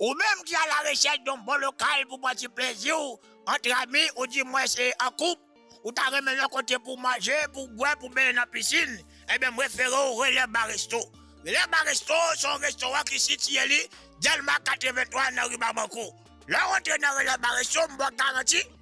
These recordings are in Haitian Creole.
Ou menm ki alarechèch don bon lokal pou pran ti plezi w antre ami ou di mwens an koup, ou ta renmen yon kote pou w manje, pou w bwè, pou w benyen nan pisin, enben m refere w Relè Bar Resto. Relè Bar Resto se yon restoran ki sitiye li Dèlma 83 nan ri Babankou. Lè w antre nan Relè Bar Resto m ba w garanti,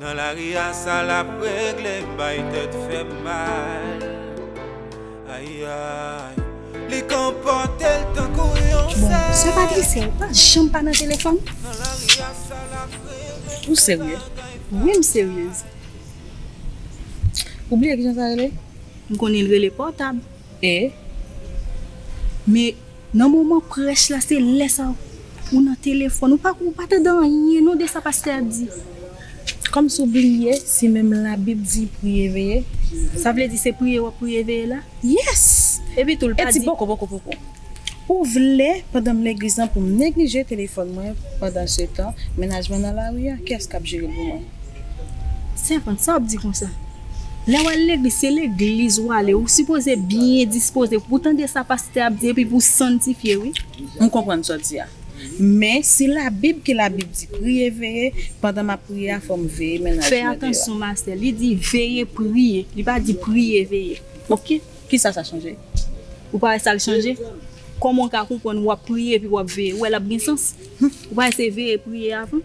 Nan lari a sa lap regle m bay tèt fèm mal ayayy li konpòtel tankou yon Bon, sè Patricia ou pa janm pa nan telefòn? Ou serye? Wi m seryez. Ou bliye kijan sa rele? M konnen l rele pòtab. E? Men. Nan moman prèch la se lè sa ou nan telefòn ou pa ou pa tande anyen non de sa pastè a di kòmsi ou bliye si menm labib di priye veye sa vle di se priye wap priye veye la yes epi tou l pa di ou vle pandan m legliz lan pou m neglije telefòn mwen pandansetan mennaj mwen nan lari a kiyès kap jere l pou mwen. Sèvant, sa wap di konsa? Lè wal legliz se legliz wale ou sipoze byen dispoze pou tande sa pastè ap di epi pou sanntifye wi. M konprann sa w di a. Men, se Labib ke Labib di, Priye, veye, pandan m ap priye a, fò m veye mennaj mwen. Fè atansyon ma sè, li di veye priye, li pa di priye veye. Ok, kisa sa chanje? Ou pa wè sa l chanje? Kòman w ka konprann w ap priye epi w ap veye? Ou wè l ap gen sans? Ou pa wè se veye priye avan?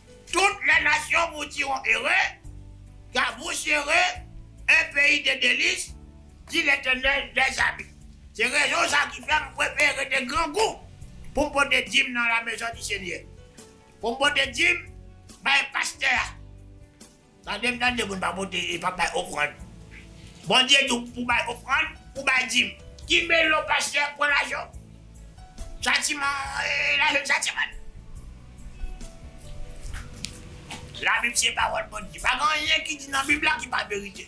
Tout lè nasyon boutiron ere, gavou chere, un pays de délices, dit l'Eternel des armées. Se rezon sa ki fè m prefere rete grangou pou m pote dim nan la mezon di Senyè, pou m pote dim bay pastè a. Tandem tande moun pa pote e pa bay ofrand Bondye di w pou bay ofrand pou bay dim. Kinbe lo pastè pran lajan chatiman lajan chatiman labib se pawòl Bondye pa gen anyen ki di nan bib la ki pa verite.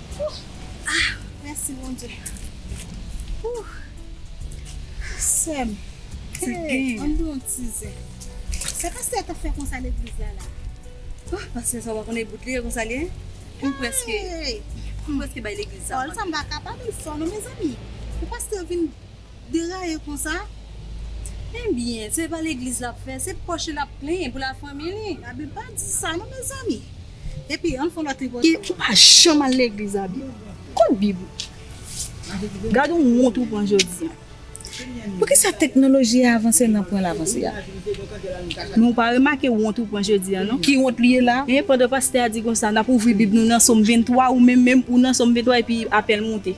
Ah mèsi Bondye Ooh Sèm Hey ann pran yon ti zen Se pastè a kap fè konsa legliz la la Ooh pastè sa ou pa konnen bout li ye konsa li ye M preske M preske bay legliz sa manti Paul sa m pa kapab li fò non mezanmi Pou pastè vin Deraye konsa? Ebyen se pa legliz lap fè, se pòch li lap plenyen pou la fanmi li. Abi pa di sa non mezanmi. Epi ann fon lòt ipotèz. Ki pa janm al legliz Abi. Kot bib ou? Gad yon wont ou pran jodi an. Poukisa teknoloji a avanse nan pwen l avanse a? Men ou pa remake wont ou pran jodi an non. Ki wont li ye la? Hein pandan pastè a di konsa nap ouvri bib nou nan som 23 ou menm menm ou nan som 23 epi apèl moute.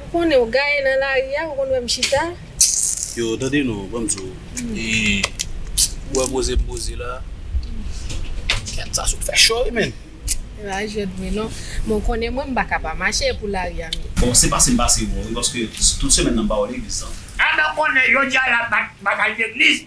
Ou konnen ou gaye nan lari a ou konn wèm chita. Yo tande non banm di w ou wè poze m poze la Kèt sa sot fè cho wi menn. Se pa jwèt vre non. Men w konnen mwen m paka pa mache pou lari a menm. Bon se pase m pase w bon wi paske tout semèn nan m pa wè legliz nan. Ann ok konnen jodi a la batay legliz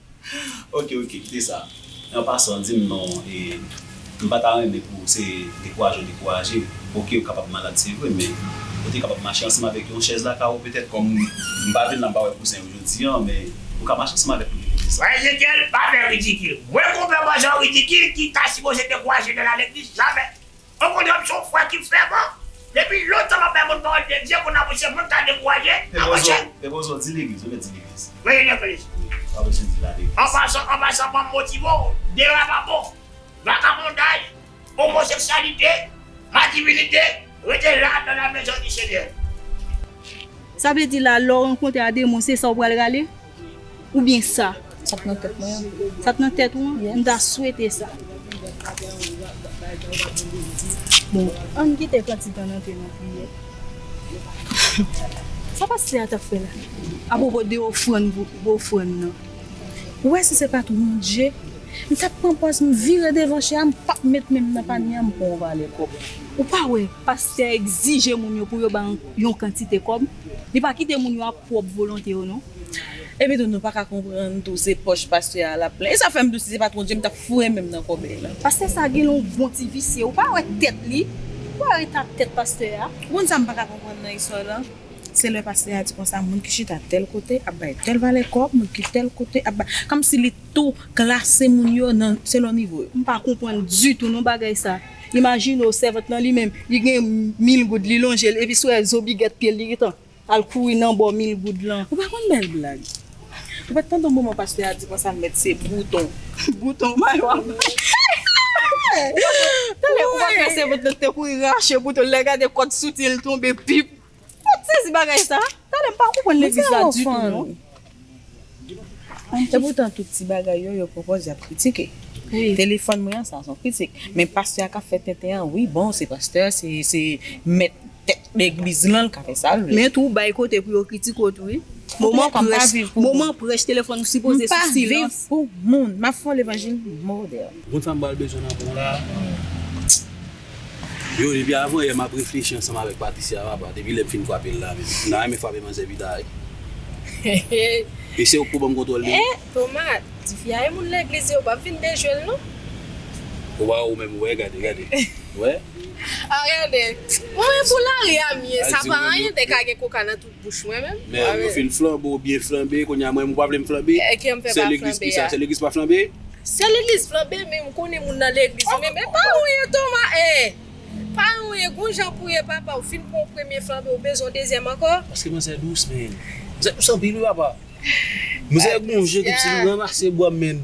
Ok ok kite sa an pasan dim non e m pa ta renmen pou se dekouraje w dekouraje ok ou kapab malad se vre men ou te kapab mache ansanm avèk yon chèz lakay ou petèt kòm m pa vin la m pa wè kousen yo jodi an men ou ka mache ansanm avèk li pou kite sa. Frè Ezekyèl pa fè ridikil. Mwen konpè bò jan ridikil ki ta sipoze dekouraje nèg la legliz jamè. On kondòm son fwa ki fèman. Depi lontan map bay moun pawòl de Dye kona monchè moun ka dekouraje nan monchè. Epozo di legliz ou byen di legliz. Mwen ye legliz. Wap oblije di la legliz. An pasan an pasan banm motive w dera pa bon. Vakabondaj, omoseksyalite, madivinite rete la dans la maison du seigneur. Sa vle di la lè w rankontre a demon se sa w pral rale? Ou byen sa. Sa k nan tèt mwen an. Sa k nan tèt ou an? Yes. M ta swete sa. Bon, ann kite kantik an antre nan priyè. Sa pastè a t ap fè la? Apwopo de ofrann pou ofrann nan. Ou wè si se pa t won't je, m t ap pran pòz m vire devan chè a, m p ap met men m nan panye a, m pran yon valè kòb. Ou pa wè pastè a egzije moun yo pou yo ba yon kantite kòb? Li pa kite moun yo ap pwòp volonte yo non. Epi tou nou pa ka konprann tou se pòch pastè a lap plen. E sa fèm tou si se pat Bondye m tap foure menm nan kòbèy lan. Pastè sa gen yon bon ti visye ou pa wè tèt li ou pa wè eta tèt pastè a. Ou konn sam paka konprann nan istwa lan se lè pastè a di konsa moun ki chita tèl kote ap bay tèl valè kòb moun ki tèl kote ap bay kòm si li tou klase moun yo nan selon nivo yo. M pa konprann ditou non bagay sa. Imajine w, sèvant lan li menm, li gen mil goud, li lonje l, epi si w wè zo bigèt pye l, li gentan al kouri nan bò mil goud lan. Ou pa konn bèl blag. Ou pa t tande yon moman pastè a di konsa l mèt se bouton. Bouton may w ap bay. Tande, ou pa kwè sèvant lan te kouri rache bouton l, lè l gade kòd soutyen l tonbe, pip! Mwen t sezi bagay sa. Tande m pa konprann legliz la ditou non. E poutan tout ti bagay yo yo pwopoz yap kritike. Telefòn mwen an sa son kritik. Men pastè a kap fè tenten an wi bon se pastè se mèt tèt legliz lan l ka fè sal vle. Men tou ou bay kote pou yo kritike w tou wi. Moman prèch telefòn ou sipoze sou silans. M pa viv pou moun. Map fè yon levanjil modèl. Bon sa m pral bezwen nan bon la. Yo depi avan yè map reflechi ansanm avèk Patricia papa depi lèm fin fwapel la menm m ta renmen fwape manzè pita wi Eseye ou pko banm kontwòl li Eh Toma tifi a e moun legliz yo pap vin dejwel non. Waw ou menm wè gade gade wè. Ah gade Mwen wè pou lari a m ye sa pa anyen te ka gen koka nan tout. bouch mwen menm. Men yo fin flanbe ou byen flanbe kounya mwen menm ou pa vlem flanbe? Ekèm fè pa flanbe a. Sè legliz pa flanbe? Sè legliz flanbe men m konnen moun nan legliz wi men pa ou ye Toma ee pa ou ye gon jan pou ye papa ou fin pran premye flanbe ou bezwen dezyèm ankò? Paske manzè dous menn. Manzè dous anpil wi papa. Manzè gon jan tou ti li ranmase bwa menn.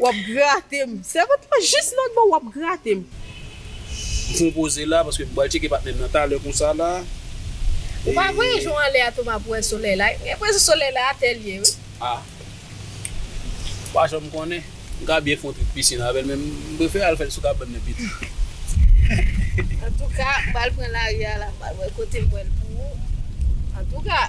Wap gratem. Sèvant lan jis nan bon wap gratem. M fon poze la paske m pral tcheke patnèm nan talè konsa la Ou pa voye je w anlè a Toma pou wè solèy la M gen enpresyon solèy la atè l ye wi. Ah Ou pa janm konnen M ka byen fon trik pisin avè l men m prefere al fè l sou kabann nan pito. Antouka m pral pran lari a la m pral wè kote m wè l pou ou Antouka.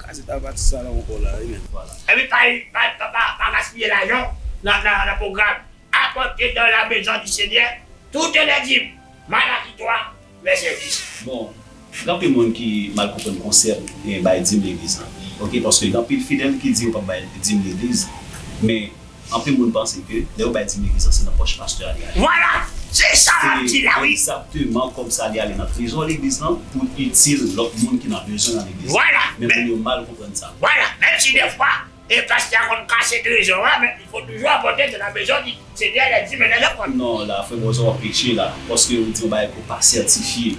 Kazèt la pa ti sa nan ankò la wi menm. Epi pa gaspiye lajan nan pwogram Apòte dan la mezon di Senyè toutè lè dim, Malaki 3, vèsè 10. Bon, gen anpil moun ki mal konprann konsèp bay dim legliz lan. Ok, paske gen anpil fidèl ki di yo pap bay dim legliz, men. Anpil moun panse ke lè yo bay Timmy vizan se nan pòch pastè a li ale. Vwala! Se sa map di la wi. Se egzakteman kòb sa li ale nan trezò legliz lan pou l itil lòt moun ki nan bezwen nan legliz la. Vwala! Men moun yo mal konprann sa. Vwala! Menm si defwa e pastè a konn kase trezò a men li konn toujou apòte ke nan bezwen li. Senyè lè di men lè repon. Non la frè Bòzò wap peche la paske ou di yon bagay ke w pa sètifye.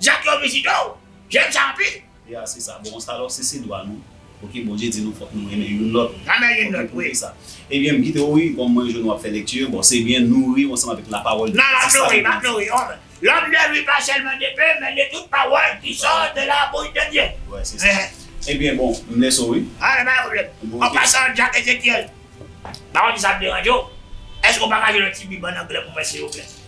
Jak yo vizite w, jèn sa anpil. Ya se sa bon sa lò se se dwa nou ok bondye di nou fòk nou renmen youn lòt Renmen youn lòt wi. Ebyen m kite w wi kòm mwen jwenn wap fè lekti bon se byen nouri w ansanm avèk la pawòl de Dye se sa nou vin di. Lòm ne vi pa sèlman de pen men de tout pawòl ki sò de la bouch de Dye. Wè se sa ebyen bon m lèse w wi. An pa gen pwoblèm. An pasan Jak Ezekyèl pa konn si sa ap deranje w, èske w pa ka jwenn yon ti bib an anglè pou mwen silvouplè?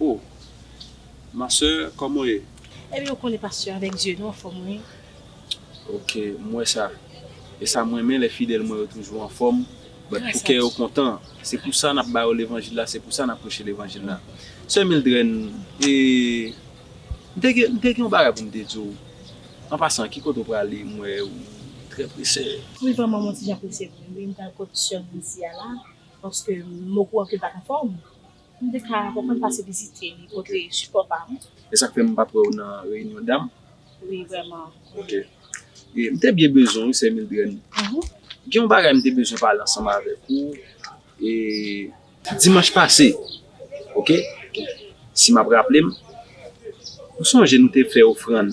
Oh ma soeur koman w ye. Ebyen ou konnen pasteur avèk zye nou anfòm wi. Ok m wè sa e sa m renmen lè fidèl mwen yo toujou anfòm but pou kè yo kontan se pou sa nap ba yo levanjil la se pou sa nap preche levanjil la sè Mildrène e m te gen m te gen yon bagay pou m te di w an pasan ki kote w prale m wè ou trè prese. Wi vrèman mwen ti jan prese vre wi m pral kot sè m nan isi a la paske m okouran ke l pat anfòm. M te ka konprann pase vizite li montre sipò pa m. Esak fè m pat wè w nan reyinyon dam? Wi vrèman. Ok. E m te byen bezwen w wi sè Mildrèn. Gen yon bagay m te bezwen pale ansanm avèk ou e. Dimanch pase ok si map raple m ou sonje nou te fè ofrann